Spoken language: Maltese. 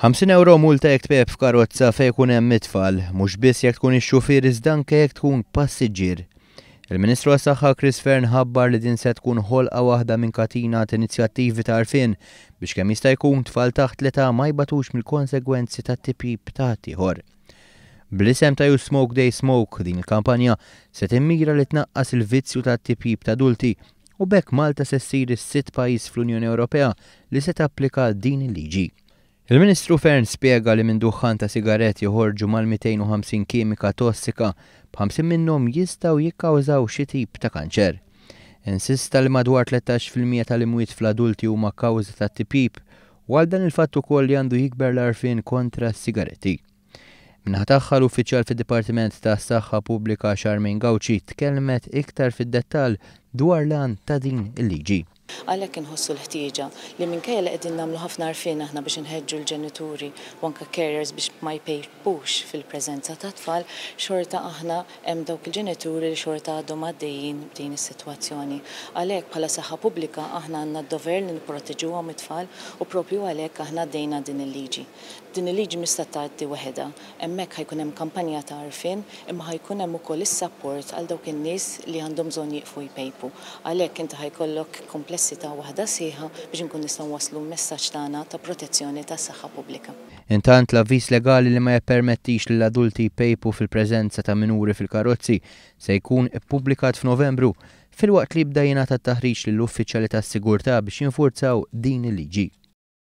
50 euro multa jekk tpejb f'karozza fejn ikun hemm it-tfal, mhux biss jekk tkun ix-xufier iżda anke jekk tkun passiġġier. Il-Ministru għas-Saħħa Chris Fearne ħabbar li din se tkun ħolqa waħda minn katina t'inizjattivi ta' għarfien biex kemm jista' jkun tfal taħt l-età ma jbatux mill-konsegwenzi tat-tipjip ta' ħaddieħor. Bl-isem ta' You Smoke They Smoke, din il-kampanja se timmira li tnaqqas il-vizzju tat-tipjip t'adulti u b'hekk Malta se ssir is-sitt pajjiż fl-Unjoni Ewropea li se tapplika din il-liġi. Il-Ministru Fearne spjega li minn duħħan ta' sigarett joħorġu mal-250 kimika tossika, b'ħamsin minnhom jistgħu jikkawżaw xi tip ta' kanċer. Insista li madwar tlettax fil-mija tal-imwiet fl-adulti huma kawża tat-tipjip u għal dan il-fatt ukoll li għandu jikber l-għarfien kontra s-sigaretti. Min-naħa tagħha, l-uffiċjal fid-Dipartiment tas-Saħħa Pubblika Charmaine Gauci tkellmet iktar fid-dettall dwar l-għan ta' din il-liġi. Għalhekk inħossu l-ħtieġa li minkejja li qegħdin nagħmlu ħafna għarfien aħna biex inħeġġu l-ġenituri u anke carers biex ma jpejpux fil-preżenza tat-tfal, xorta aħna hemm dawk il-ġenituri li xorta għadhom għaddejjin b'din is-sitwazzjoni. Għalhekk bħala Saħħa Pubblika aħna għandna d-dover li nipproteġuhom it-tfal u proprju għalhekk aħna għaddejna din il-liġi. Din il-liġi mhix se tgħaddi waħedha. Hemmhekk ħa jkun hemm kampanja ta' għarfien, imma ħa jkun hemm ukoll is-sapport għal dawk in-nies li għandhom bżonn jieqfu jpejpu. Għalhekk inti ħa jkollok komplessità waħda sħiħa biex inkun nistgħu nwasslu l-messaġġ tagħna ta' protezzjoni tas-saħħa pubblika. Intant, l-avviż legali li ma jippermettix lil adulti jpejpu fil-preżenza ta' minuri fil-karozzi se jkun ippubblikat f'Novembru, filwaqt li jibda jingħata t-taħriġ lill-uffiċjali tas-sigurtà biex jinfurzaw din il-liġi.